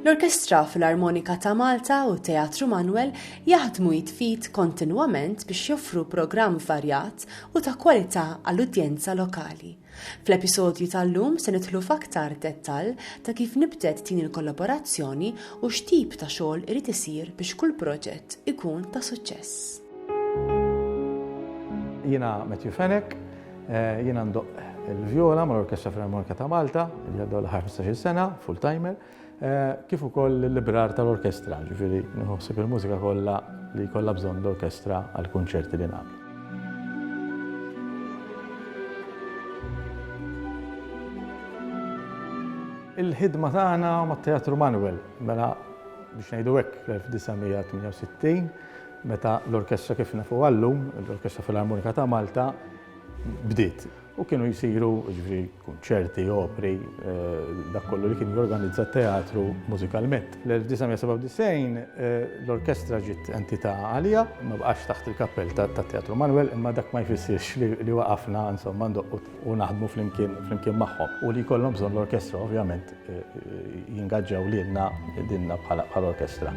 L-Orkestra Filarmonika ta' Malta u Teatru Manwel jaħdmu jitfit kontinwament biex joffru programm varjat u ta' kwalità għall-udjenza lokali. Fl-episodju tal-lum se nidħlu f'aktar dettall ta' kif nibtet din il-kollaborazzjoni u x'tip ta' xogħol irid isir biex kull proġett ikun ta' suċċess. Jiena Matthew Fenech, eh, jiena ndoqq il-vjola mal-Orkestra Filarmonika ta' Malta, li għaddew l-aħħar 15-il sena, full-timer. kif ukoll l-librar tal-orkestra, ġifieri nieħu ħsieb il-mużika kollha li jkollha bżonn l-orkestra għall-kunċerti li nagħmel. Il-ħidma tagħna mat-Teatru Manuel, mela biex ngħidu hekk fl-1968, meta l-orkestra kif nafuha llum, l-Orkestra Filarmonika ta' Malta, bdiet. U kienu jsiru, jiġifieri, kunċerti, opri, dak kollu li kien jorganizza t-teatru mużikalment. Fl-1997 l-orkestra ġiet entità għalija, ma baqgħetx taħt il-kappell tat-Teatru Manwel, imma dak ma jfissirx li waqafna, insomma, ndoqqu u naħdmu flimkien magħhom u li jkollhom bżonn l-orkestra, ovvjament. jingaġġaw lilna lilna bħala bħala orkestra.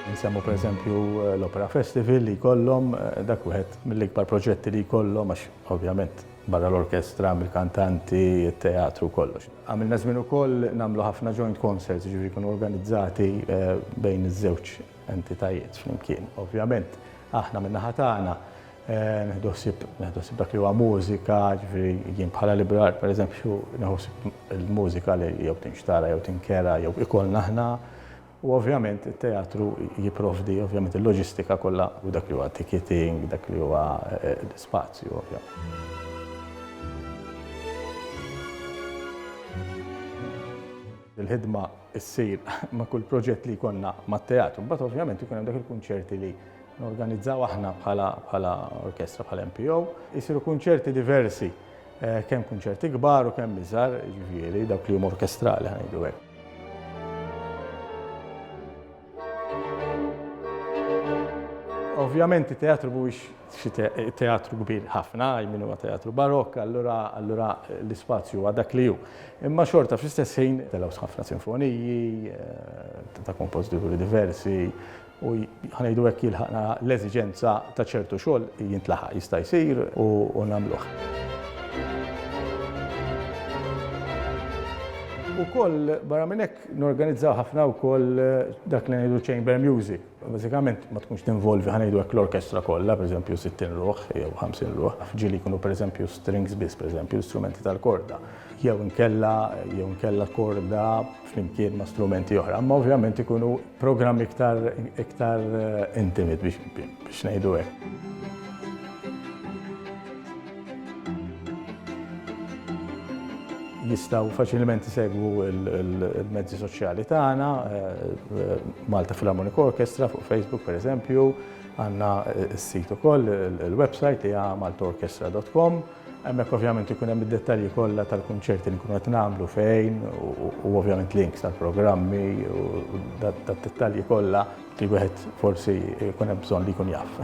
Insemmu pereżempju l-Opera Festival li jkollhom, dak wieħed mill-ikbar proġetti li jkollhom għax ovvjament barra l-orkestra hemm il-kantanti, it-teatru, kollox. Għamilna żmien ukoll nagħmlu ħafna joint concerts, jiġifieri jkunu organizzati bejn iż-żewġ entitajiet flimkien. Ovvjament aħna min-naħa tagħna, Nieħdu ħsieb dak li huwa mużika, ġifieri jien bħala librar pereżempju nieħu ħsieb il-mużika li jew tinxtara jew tinkera jew ikollna aħna u ovvjament it-teatru jipprovdi ovvjament il-loġistika kollha u dak li huwa ticketing, dak li huwa spazju ovvjament. Il-ħidma ssir ma' kull proġett li jkollna mat-teatru. Imbagħad ovvjament ikun hemm dak il-kunċerti li Norganizzaw aħna bħala bħala orkestra bħala MPO, isiru kunċerti diversi, kemm kunċerti kbar u kemm iżgħar, jiġifieri dawk li huma orkestrali ħanejdu hekk. Ovvjament it-teatru mhuwiex xi teatru kbir ħafna, min huwa teatru barokk, allura allura l-ispazju huwa dak li hu. Imma xorta fl-istess ħin telgħu ħafna sinfoniji ta' kompożituri diversi, u ħa ngħidu hekk jilħaq l-eżiġenza ta' ċertu xogħol jintlaħaq, jista' jsir u nagħmluh. Ukoll barra minn hekk norganizzaw ħafna wkoll dak li ngħidu chamber music. Bażikament ma tkunx tinvolvi ħa ngħidu hekk l-orkestra kollha, pereżempju 60 ruħ jew 50 ruħ, ġieli jkunu pereżempju strings biss, pereżempju strumenti tal-korda, jew inkella jew inkella korda flimkien ma' strumenti oħra, imma ovvjament ikunu programmi iktar iktar eh, intimit biex biex ngħidu hekk. jistaw faċilment segwu il-mezzi soċjali tagħna, eh, Malta Philharmonic Orchestra fuq Facebook per eżempju, għanna s-sit ukoll il-website hija maltorchestra.com Hemmhekk ovvjament ikun hemm id-dettalji kollha tal-kunċerti li nkunu qed nagħmlu, fejn, u ovvjament links tal-programmi u d-dettalji kollha li wieħed forsi jkun hemm bżonn li jkun jaf.